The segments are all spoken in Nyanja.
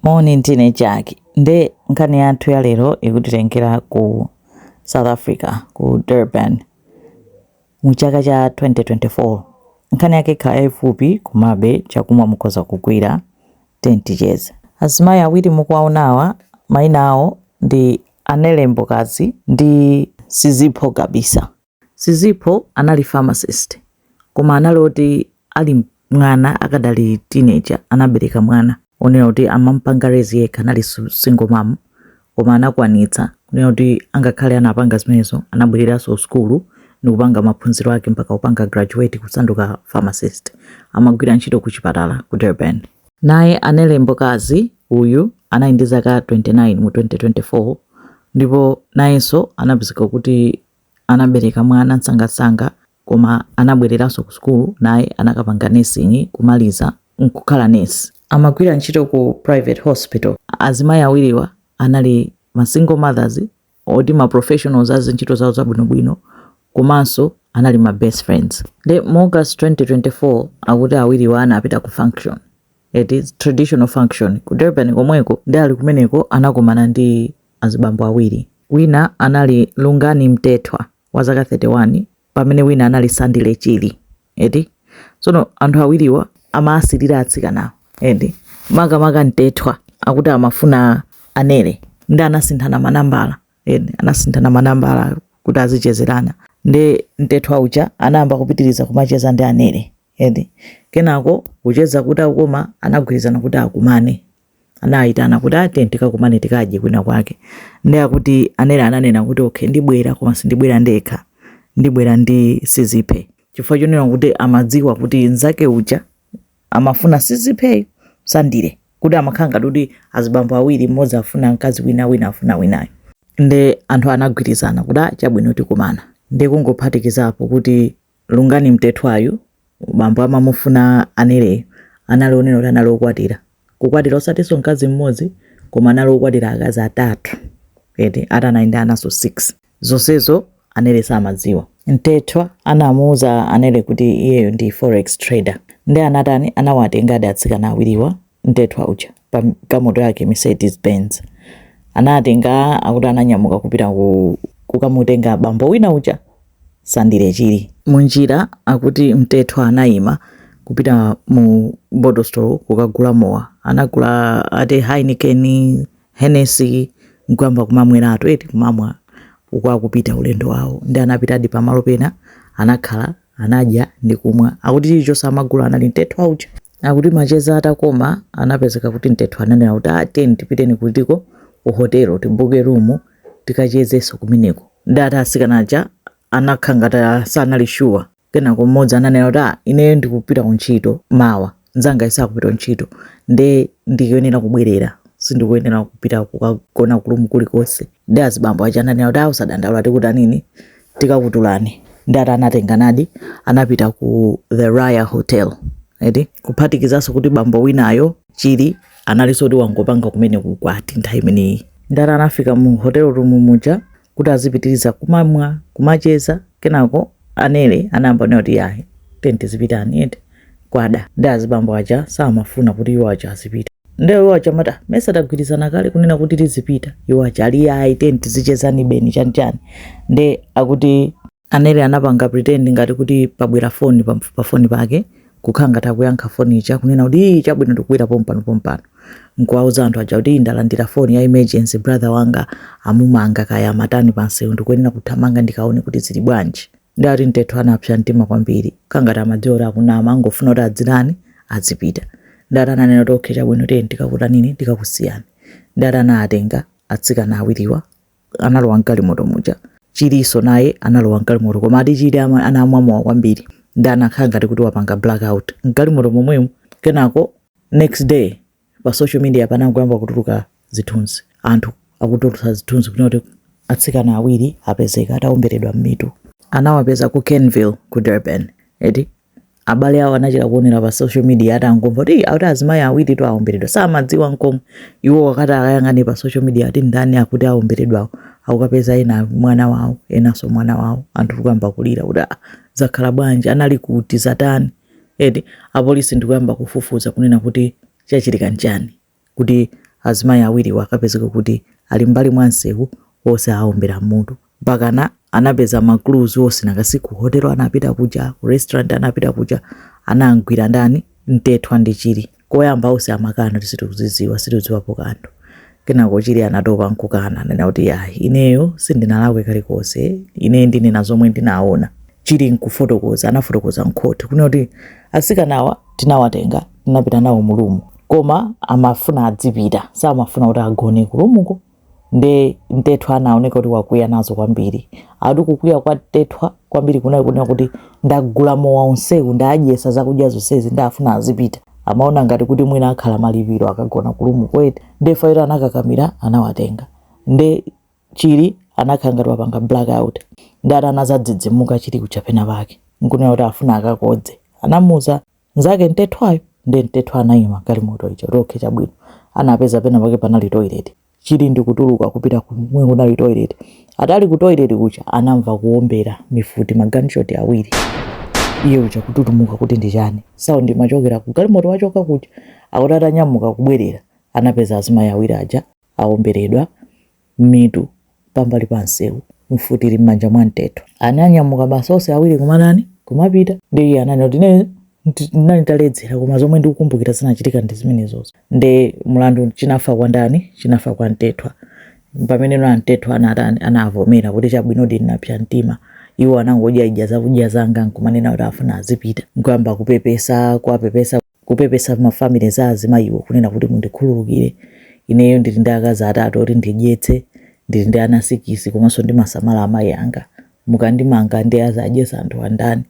Moni, ndine Jack. Nde nkhani yathu ya lero ikutitengera ku South Africa, ku Durban, mu chaka cha 2024. Nkhani yake ikhala yaifupi, komabe chakumwa mukhoza kugwira. Tiyeni ticheze. Azimayi awiri mukuwaonawa maina awo ndi Anele Mbokazi ndi Sizipho Gabisa. Sizipho anali pharmacist koma anali oti ali mwana akadali teenager anabereka mwana onena kuti amampanga raise yekha anali single mom koma anakwanitsa kunena kuti angakhale anapanga zimenezo anabwereranso kusukulu nikupanga maphunziro ake mpaka kupanga graduate kusanduka pharmacist amagwira ntchito ku chipatala ku Durban naye Anele Mbokazi uyu anali ndi zaka 29 mu 2024 ndipo nayenso anapezeka kuti anabereka mwana msangamsanga koma anabwereranso ku sukulu naye anakapanga nursing kumaliza nkukhala nurse amagwira ntchito ku private hospital azimayi awiriwa anali ma single mothers oti ma professionals azi ntchito zawo zabwinobwino komanso anali ma best friends nde mu august 2024 akuti awiriwa anapita ku function eti traditional function ku durban komweko ndi ali kumeneko anakumana ndi azibambo awiri. Wina anali Lungani Mtethwa wa zaka 31 pamene wina anali Sandile Chili. Eti tsono anthu awiriwa amawasilira atsikanawo. Eti makamaka Mtethwa akuti amafuna Anele ndi anasinthana manambala. Eti anasinthana manambala kuti azichezerana. Ndi Mtethwa uja anayamba kupitiriza kumacheza ndi Anele. Eti kenako kucheza kutakoma anagwirizana kuti akumane. anayitana kuti ati tikakumane tikadye kwina kwake ndi akuti anele ananena kuti okay ndibwera koma sindibwera ndekha ndibwera ndi sizipho chifukwa chonena kuti amadziwa kuti nzake uja amafuna sizipho sandile kuti amakhala ngati kuti azibambo awiri mmodzi afuna mkazi wina wina afuna winayo nde anthu anagwirizana kuti "Ah, chabwino tikumana nde kungophatikizapo kuti Lungani Mtethwayu bambo amamufuna Aneleyu anali onena kuti anali okwatira kukwatira osatinso mkazi mmodzi koma anali okwatira akazi atatu eti ati anali ndi ananso 6 zonsezo Anele samadziwa. Mtethwa anamuuza Anele kuti iyeyo ndi forex trader nde anatani anawatengadi atsikana awiriwa Mtethwa uja pa galimoto yake Mercedes Benz anatenga akuti ananyamuka kupita kukamutenga bambo wina uja Sandile Chili. Munjira akuti Mtethwa anayima kupita mu bottle store kukagula mowa. Anagula ati Heineken, Hennessy nkuyamba kumamweratu eti kumamwa uku akupita ulendo wawo. Nde anapitadi pamalo pena anakhala. anadya ndi kumwa. Akuti chilichonse amagula anali Mtethwa uja. Akuti macheza atakoma, anapezeka kuti Mtethwa ananena kuti ah, tiyeni tipiteni kutiko ku hotelo tibuke rumu tikachezenso kumeneko. Nde ati asikana aja anakhala ngati sanali shuwa. Kenako mmodzi ananena kuti ah, ineyo ndikupita ku ntchito mawa. nzangayi sakupita ntchito nde ndikuyenera kubwerera sindikuyenera kupita kukagona ku room kulikonse nde azibambo aja ananena kuti a usadandaula tikutanini tikakutulani nde ati anatenganadi anapita ku the raya hotel eti kuphatikizanso kuti bambo winayo chili analinso kuti wangopanga kumene ukwati nthawi imeneyi nde ati anafika mu hotel room muja kuti azipitiliza kumamwa kumacheza kenako anele anayamba kunena kuti yayi tiyeni tizipitani eti kwada nde azibambo aja samafuna kuti iwo aja azipita ndeyo iwo aja amati mesa tagwirizana kale kunena kuti tizipita iwo aja ali yayi tiyeni tizichezani beni chanichani nde akuti Anele anapanga pretend ngati kuti pabwera foni pa, pa foni pake kukhala ngati akuyankha foni ija kunena kuti ii chabwino ndikubwera pompano pompano nkuwauza anthu aja kuti ndalandira foni ya emergency brother wanga amumanga kaya amatani pansewu ndikuyenera kuthamanga ndikaone kuti zili bwanji ndiye kuti Mtethwa anapsa mtima kwambiri kukhala ngati amadziwa kuti akunama angofuna kuti adzitani adzipita ndiye ati ananena kuti okay chabwino tiyeni tikakutanini tikakusiyani ndiye ati anatenga atsikana awiriwa analowa mgalimoto muja chilinso naye analowa mgalimoto koma ati chili ama- anamwa mowa kwambiri nde anakhala ngati kuti wapanga blackout mgalimoto momwemo kenako next day pa social media panangoyamba kutuluka zithunzi anthu akutulutsa zithunzi kunena kuti atsikana awiri apezeka ataomberedwa m'mitu anawapeza ku kenville ku durban eti abale awo anachita kuonera pa social media atangomva kuti akuti azimayi awiritu aomberedwa samadziwa nkomwe iwo akati akayang'ane pa social media ati ndani akuti aomberedwawo akukapeza ena mwana wawo enanso mwana wawo anthu kuyamba kulira kuti "Ah, zakhala bwanji anali kuti zatani eti apolisi ndikuyamba kufufuza kunena kuti chachitika nchani kuti azimayi awiriwa akapezeke kuti ali m'mbali mwa msewu onse aombera m'mutu. Mpakana anapeza ma clues onse nanga si ku hotel anapita kuja, ku restaurant anapita kuja, anam'gwira ndani? Mtethwa ndi Chili. Koyamba onse amakana kuti sitikuzidziwa, sitikudziwapo kanthu. Kenako Chili anatopa n'kukana, ananena kuti, Ayi, ineyo sindinalakwe kalikonse. Ine ndinena zomwe ndinaona. Chili n'kufotokoza, anafotokoza m'khoti kunena kuti atsikanawa tinawatenga tinapita nawo mu room koma amafuna adzipita samafuna kuti agone ku roomko nde mtethwa anaoneka kuti wakwiya nazo kwambiri ati kukwiya kwa mtethwa kwambiri kunali kunena kuti ndagula mowa onsewu ndadyesa zakudya zonsezi nde afuna azipita amaona ngati kuti mwina akhala malipiro akagona ku roomko eti nde fairo anakakamira anawatenga nde Chilli anakhala ngati wapanga blackout nde ati anazadzidzimuka chilli kuja pena pake nkunena kuti afuna akakodze anamuuza nzake mtethwayo nde mtethwa anaima galimoto ija kuti okay chabwino anapeza pena pake panali toilet chilli ndikutuluka kupita kumwe kunali toilet ati ali ku toilet kuja anamva kuombera mifuti ma gunshot awiri iye uja kututumuka kuti ndi chani sound ikuchokera ku galimoto wachoka kuja akuti atanyamuka kubwerera anapeza azimayi awiri aja awomberedwa mmitu pambali pa msewu, mfuti ili m'manja mwa Mtethwa. Ananyamuka basi onse awiri kumatani, kumapita. Ndiye iye ananena kuti ine ndinali nditaledzera, koma zomwe ndikukumbukira zinachitika ndi zimenezozo. Ndi mlandu chinafa kwa ndani? Chinafa kwa mtethwa. Pamenepo Mtethwa anatani, anavomera kuti chabwinodi ndinapsa mtima. Iwo anangodyaidya zakudya zanga nkumanena kuti afuna azipita, nkuyamba kupepesa, kuwapepesa. kupepesa ma family za azimayiwo kunena kuti mundikhululukire ineyo ndili ndi akazi atatu oti ndidyetse ndili ndi ana sikisi komanso ndimasamala amayi anga mukandimanga ndiye azadyesa anthuwa ndani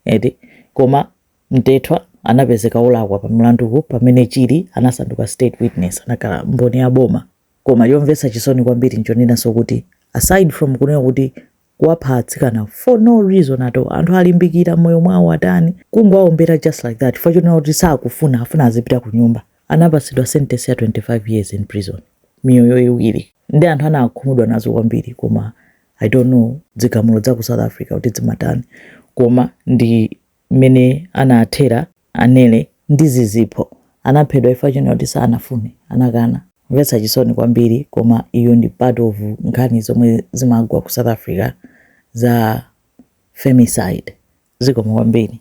eti koma mtethwa anapezeka olakwa pa mlanduwu pamene chili anasanduka state witness anakhala mboni ya boma koma chomvetsa chisoni kwambiri nchonenanso kuti aside from kunena kuti kuwapha atsikana for no reason at all anthu alimbikira moyo mwawo atani kungowaombera just like that chifukwa chonena kuti sakufuna afuna azipita ku nyumba anapatsidwa sentence ya 25 years in prison miyoyo iwiri ndi anthu anakhumudwa nazo kwambiri koma i don't know dzigamulo dza ku south africa kuti dzimatani koma ndi mmene anathera Anele ndi Zizipho anaphedwa chifukwa chonena kuti sanafune, anakana. Mvetsa chisoni kwambiri koma iyo ndi part of nkhani zomwe zimagwa ku South Africa za femicide. Zikomo kwambiri.